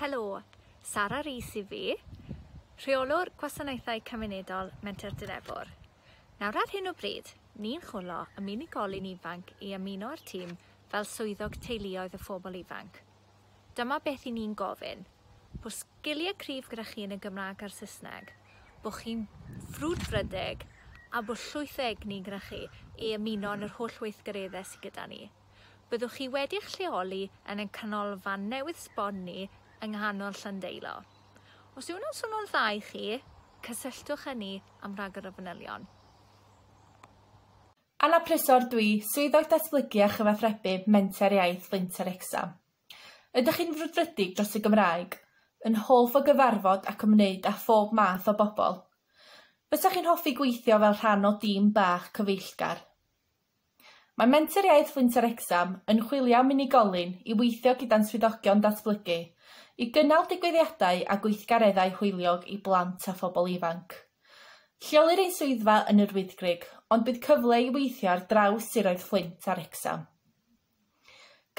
Helo, Sara Rees i fi, Rheolwr Gwasanaethau Cymunedol Menter Dilefwr. Nawr ar hyn o bryd, ni'n chwlo am unigolyn ifanc i ymuno â'r tîm fel swyddog teuluoedd y phobl ifanc. Dyma beth i ni'n gofyn, bod sgiliau cryf gyda chi yn y Gymraeg a'r Saesneg, bod chi'n frwdfrydig a bod llwyth o egni gyda chi i ymuno yn yr holl weithgareddau sydd gyda ni. Byddwch chi wedi eich lleoli yn ein canolfan newydd sbon ni yng nghanol Llandeilo. Os yw hwnna'n swnio'n dda i chi, cysylltwch â ni am ragor o fanylion. Anna Prysor Dwi Swyddog Datblygu a Chyfathrebu Menter Iaith Linc Wrecsam. Ydych chi'n frwdfrydig dros y Gymraeg? Yn hoff o gyfarfod ac ymwneud â phob math o bobl? Fysa chi'n hoffi gweithio fel rhan o dîm bach cyfeillgar? Mae Menter Iaith Linc Wrecsam yn chwilio am unigolyn i weithio gyda'n Swyddogion Datblygu i gynnal digwyddiadau a gweithgareddau hwyliog i blant a phobl ifanc. Lleolir ein swyddfa yn Yr Wyddgrug, ond bydd cyfle i weithio ar draws siroedd Fflint a Wrecsam.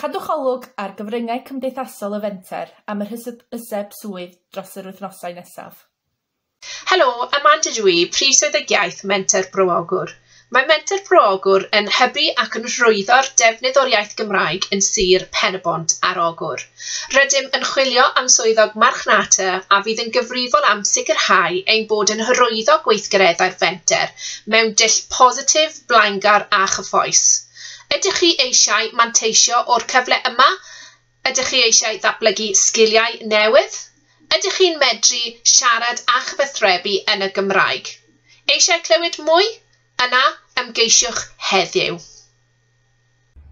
Cadwch olwg ar gyfryngau cymdeithasol y Fenter am yr hysbyseb swydd dros yr wythnosau nesaf. Helo, Amanda dw i, Prif Swyddogiaeth Menter Bro Ogwr. Mae Menter Pro Ogwr yn hybu ac yn rhwyddo'r defnydd o'r iaith Gymraeg yn Sir Pen-y-bont ar Ogwr. Rydym yn chwilio am swyddog marchnata a fydd yn gyfrifol am sicrhau ein bod yn hyrwyddo gweithgareddau'r Fenter mewn dull positif, blaengar a chyffrous. Ydych chi eisiau manteisio o'r cyfle yma? Ydych chi eisiau datblygu sgiliau newydd? Ydych chi'n medru siarad a chyfathrebu yn y Gymraeg? Eisiau clywed mwy? Yna ymgeisiwch heddiw.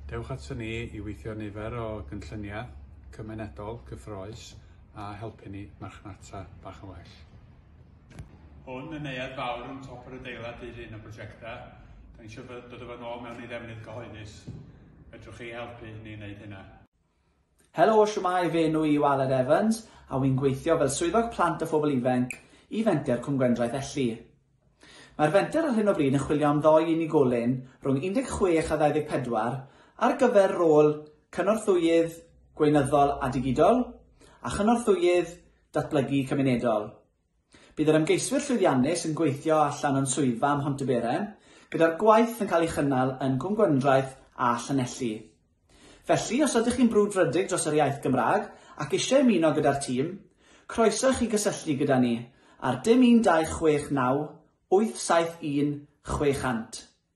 Dewch aton ni i weithio nifer o gynlluniau cymunedol cyffrous a helpu ni marchnata bach yn well. Hwn yn neuadd fawr yn top yr adeilad dy hun o brosiectau. Da ni eisiau dod â fo nôl mewn i ddefnydd gyhoeddus. Fedrwch chi helpu ni wneud hynna? Helo, shwmae, fy enw i yw Aled Evans a wy'n gweithio fel Swyddog Plant a Phobl Ifainc i Fenter Cwm Gwendraeth Elli. Mae'r Fenter ar hyn o bryd yn chwilio am ddoi unigolyn rhwng 16 a 24 ar gyfer rôl Cynorthwyydd Gweinyddol a Digidol a Chynorthwyydd Datblygu Cymunedol. Bydd yr ymgeiswyr llwyddiannus yn gweithio allan o'n swyddfa ym Mhontyberem, gyda'r gwaith yn cael ei chynnal yn Cwm Gwendraeth a Llanelli. Felly, os ydych chi'n brwdfrydig dros yr iaith Gymraeg ac eisiau ymuno gyda'r tîm, croeso i chi gysylltu gyda ni ar dim 1269 871 600.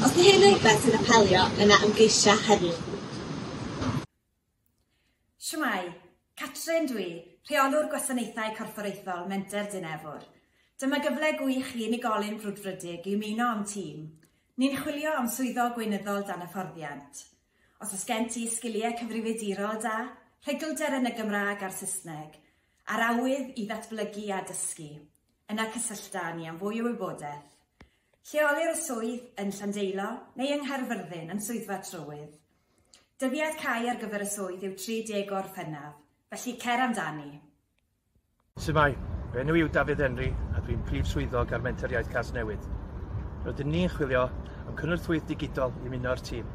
Os di hyn yn rwbeth sy'n apelio, yna ymgeisia heddiw. Shwmae! Catrin dw i, Rheolwr Gwasanaethau Corfforaethol Menter Dyn Efr. Dyma gyfle gwych i unigolyn brwdfrydig i ymuno â'm tîm. Ni'n chwilio am Swyddog Gweinyddol dan hyfforddiant. Os oes gen ti sgiliau cyfrifiadurol da, rhugl-der yn y Gymraeg a'r Saesneg, a'r awydd i ddatblygu a dysgu, Yna cysyllta â ni am fwy o wybodaeth. Lleolir y swydd yn Llandeilo neu yng Nghaerfyrddin yn Swyddfa Trywydd. Dyddiad cau ar gyfer y swydd yw 30 Gorffennaf, felly cer amdani! Su'mae, fy enw yw Dafydd Henry a dwi'n Prif Swyddog ar Menter Iaith Casnewydd. Rydyn ni'n chwilio am cynorthwyydd digidol i ymuno â'r tîm.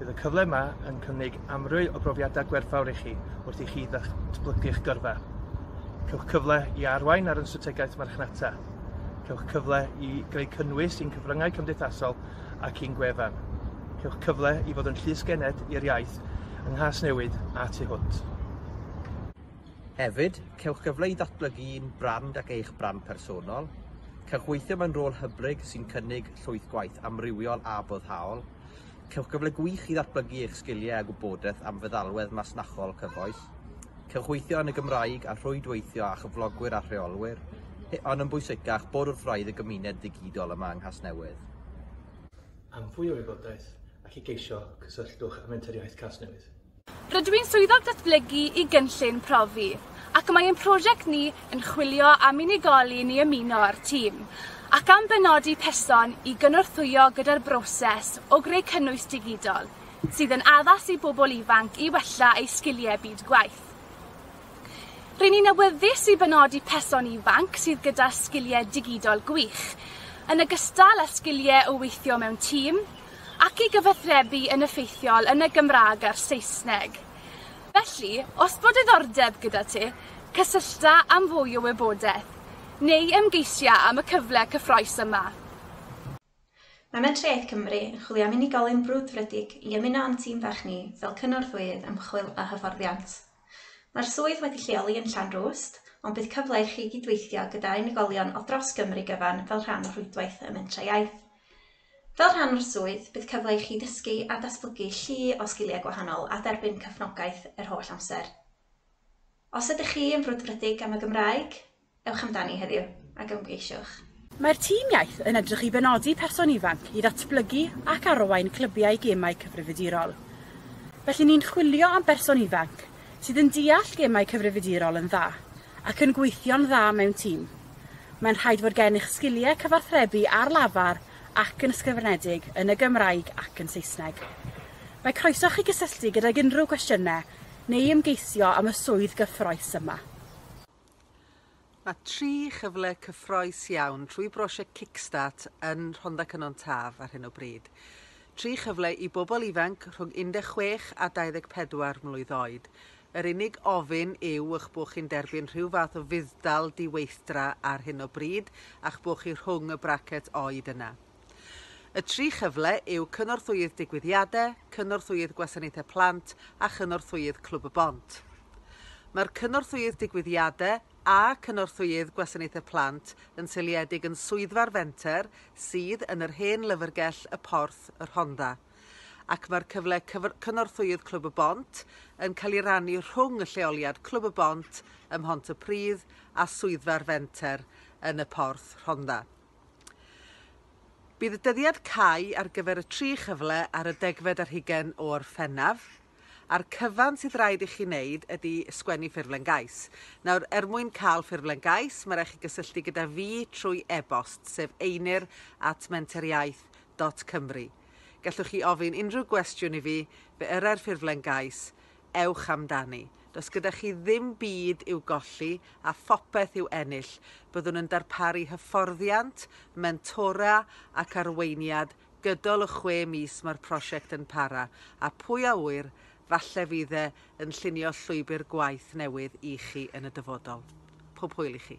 Bydd y cyfle yma yn cynnig amryw o brofiadau gwerthfawr i chi wrth i chi ddatblygu'ch gyrfa. Cewch cyfle i arwain ar yn strategaeth marchnata. Cewch cyfle i greu cynnwys i'n cyfryngau cymdeithasol ac i'n gwefan. Cewch cyfle i fod yn llysgened i'r iaith yng Nghasnewydd a tu hwnt. Hefyd, cewch gyfle i ddatblygu un brand ac eich brand personol. Cewch weithio mewn rôl hyblyg sy'n cynnig llwyth gwaith amrywiol a boddhaol. Cewch gyfle gwych i ddatblygu eich sgiliau a gwybodaeth am feddalwedd masnachol cyfoes. Cewch weithio yn y Gymraeg a rhwydweithio â chyflogwyr a rheolwyr, ond yn bwysicach, bod wrth wraidd y gymuned ddigidol yma yng Nghasnewydd. Am fwy o wybodaeth ac i geisio, cysylltwch â Menter Iaith Casnewydd. Rydw i'n Swyddog Datblygu i Gynllun Profi ac mae ein prosiect ni yn chwilio am unigolyn i ymuno â'r tîm ac am benodi person i gynorthwyo gyda'r broses o greu cynnwys digidol sydd yn addas i bobl ifanc i wella eu sgiliau byd gwaith. Ry'n ni'n awyddus i benodi person ifanc sydd gyda sgiliau digidol gwych, yn ogystal â sgiliau o weithio mewn tîm, ac i gyfathrebu yn effeithiol yn y Gymraeg a'r Saesneg. Felly, os bod diddordeb gyda ti, cysyllta am fwy o wybodaeth, neu ymgeisia am y cyfle cyffrous yma. Mae Mentrau Iaith Cymru yn chwilio am unigolyn brwdfrydig i ymuno â'n tîm fach ni fel Cynorthwyydd Ymchwil a Hyfforddiant. Mae'r swydd wedi lleoli yn Llanrwst, ond bydd cyfle i chi gydweithio gyda unigolion o dros Gymru gyfan fel rhan o rhwydwaith y Mentrau Iaith. Fel rhan o'r swydd, bydd cyfle i chi ddysgu a datblygu llu o sgiliau gwahanol a derbyn cefnogaeth yr holl amser. Os ydych chi yn frwdfrydig am y Gymraeg, ewch amdani heddiw ac ymgeisiwch. Mae'r tîm iaith yn edrych i benodi person ifanc i ddatblygu ac arwain clybiau gemau cyfrifiadurol. Felly ni'n chwilio am berson ifanc sydd yn deall gemau cyfrifiadurol yn dda ac yn gweithio'n dda mewn tîm. Mae'n rhaid fod gennych sgiliau cyfathrebu ar lafar ac yn ysgrifenedig yn y Gymraeg ac yn Saesneg. Mae croeso chi gysylltu gydag unrhyw gwestiynau neu ymgeisio am y swydd gyffrous yma. Mae tri chyfle cyffrous iawn trwy brosiect Kickstart yn Rhondda Cynon Taf ar hyn o bryd. Tri chyfle i bobl ifanc rhwng 16 a 24 mlwydd oed. Yr unig ofyn yw eich bod chi'n derbyn rhyw fath o fudd-dal di-weithdra ar hyn o bryd a'ch bod chi rhwng y bracet oed yna. Y tri chyfle yw Cynorthwyydd Digwyddiadau, Cynorthwyydd Gwasanaethau Plant a Chynorthwyydd Clwb y Bont. Mae'r Cynorthwyydd Digwyddiadau a Cynorthwyydd Gwasanaethau Plant yn seiliedig yn Swyddfa'r Fenter sydd yn yr hen lyfrgell Y Porth, y Rhondda, ac mae'r cyfle Cynorthwyydd Clwb y Bont yn cael ei rannu rhwng y lleoliad Clwb y Bont ym Mhontypridd a Swyddfa'r Fenter yn Y Porth, Rhondda. Bydd y dyddiad cau ar gyfer y tri chyfle ar y degfed ar hugain o Orffennaf, a'r cyfan sydd raid i chi wneud ydy sgwennu ffurflen gais. Nawr, er mwyn cael ffurflen gais, mae raid chi gysylltu gyda fi trwy e-bost, sef einir at menteriaeth dot cymru. Gallwch chi ofyn unrhyw gwestiwn i fi, fe yrai'r ffurflen gais, ewch amdani. Does gyda chi ddim byd i'w golli a phopeth i'w ennill. Byddwn yn darparu hyfforddiant, mentora ac arweiniad gydol y chwe mis mae'r prosiect yn para, a pwy a ŵyr, falle fydd e yn llunio llwybr gwaith newydd i chi yn y dyfodol. Pob hwyl i chi.